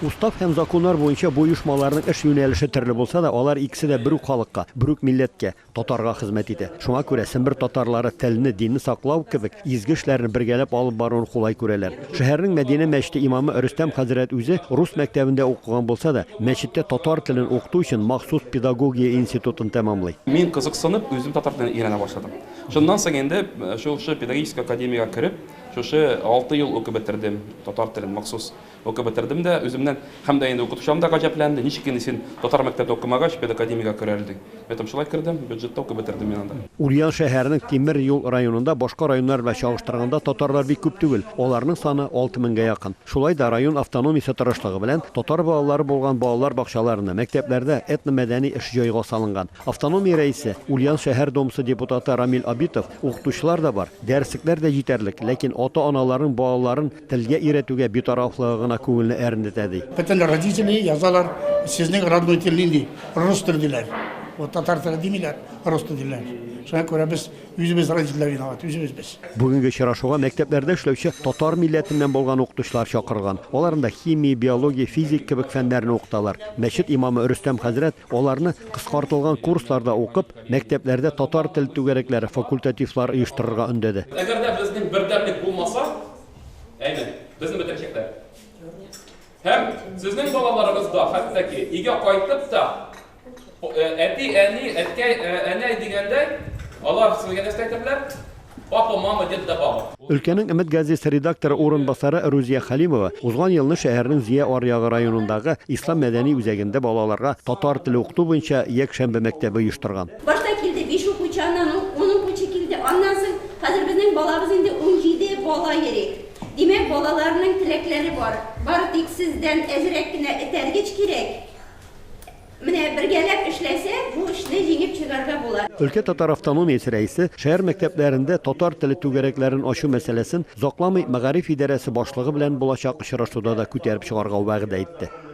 Устав һәм законнар буенча бу оешмаларның эш юнәлеше төрле булса да, алар икесе дә бер үк халыкка, бер үк милләткә, татарга хезмәт итә. Шуңа күрә Сембер татарлары телне, динне саклау кебек изге эшләрне бергәләп алып баруны кулай күрәләр. Шәһәрнең Мәдинә мәчете имамы Рөстәм хәзрәт үзе рус мәктәбендә укыган булса да, мәчеттә татар телен укыту өчен махсус педагогия институтын тәмамлый. Мин кызыксынып, үзем татар телен өйрәнә башладым. Шуннан соң инде шушы педагогический академиягә кереп, Шушы алты ел укып бетердем, татар телен махсус укып бетердем дә, үземнән һәм дә инде укытучыларым да гаҗәпләнде, ничек инде син татар мәктәбендә укымагач, педакадемиягә керә әле, дип. Мин әйттем, шулай кердем, бюджетта укып бетердем мин анда. Ульян шәһәренең Тимер юл районында башка районнар белән чагыштырганда татарлар бик күп түгел, аларның саны алты меңгә якын. Шулай да район автономиясе тырышлыгы белән татар балалары булган балалар бакчаларында, мәктәпләрдә этномәдәни эш җайга салынган. Автономия рәисе, Ульян шәһәр домсы депутаты Рамил Абитов Укытучылар да бар, дәреслекләр дә җитәрлек, ләкин ата-аналарның балаларын телгә өйрәтүгә битарафлыгы гына күңелне әрнетә, ди. Бөтен родители язалар, Сезнең родной тел нинди? Рус теле, диләр. Вот татар теле димиләр, рус теле диләр. Шуңа күрә без үзебез родительләр виноват, үзебез без. Бүгенге очрашуга мәктәпләрдә эшләүче татар милләтеннән булган укытучылар чакырылган. Алар анда химия, биология, физик кебек фәннәрне укыталар. Мәчет имамы Рөстәм хәзрәт аларны кыскартылган курсларда укып, Мәктәпләрдә татар тел түгәрәкләре, факультативлар оештырырга өндәде. Әгәр дә безнең бердәмлек булмаса, әйе, безне бетерәчәкләр. Һәм сезнең балаларыгыз да, хәтта ки, өйгә кайтып та, әти, әни, әткәй, әнәй дигәндәй, алар сезгә нәрсә әйтерләр? Папа, мама, дед да баба. Өлкәнең Өмет газесы редакторы урынбасары Рузия Хәлимова узган елны шәһәрнең Зөя аръягы районындагы Ислам мәдәни үзәгендә балаларга татар теле укыту буенча якшәмбе мәктәбе оештырган. Башта килде биш укучы, аннан ун укучы килде, аннан соң хәзер безнең балабыз инде унҗиде бала йөри. Димәк, балаларның теләкләре бар. Бары тик сездән әзрәк кенә этәргеч кирәк. Менә бергәләп эшләсә, бу эшне җиңеп чыгарга була. Өлкә татар автономиясе рәисе шәһәр мәктәпләрендә татар теле түгәрәкләрен ачу мәсьәләсен озакламый мәгариф идарәсе башлыгы белән булачак очрашуда да күтәреп чыгарга вәгъдә итте.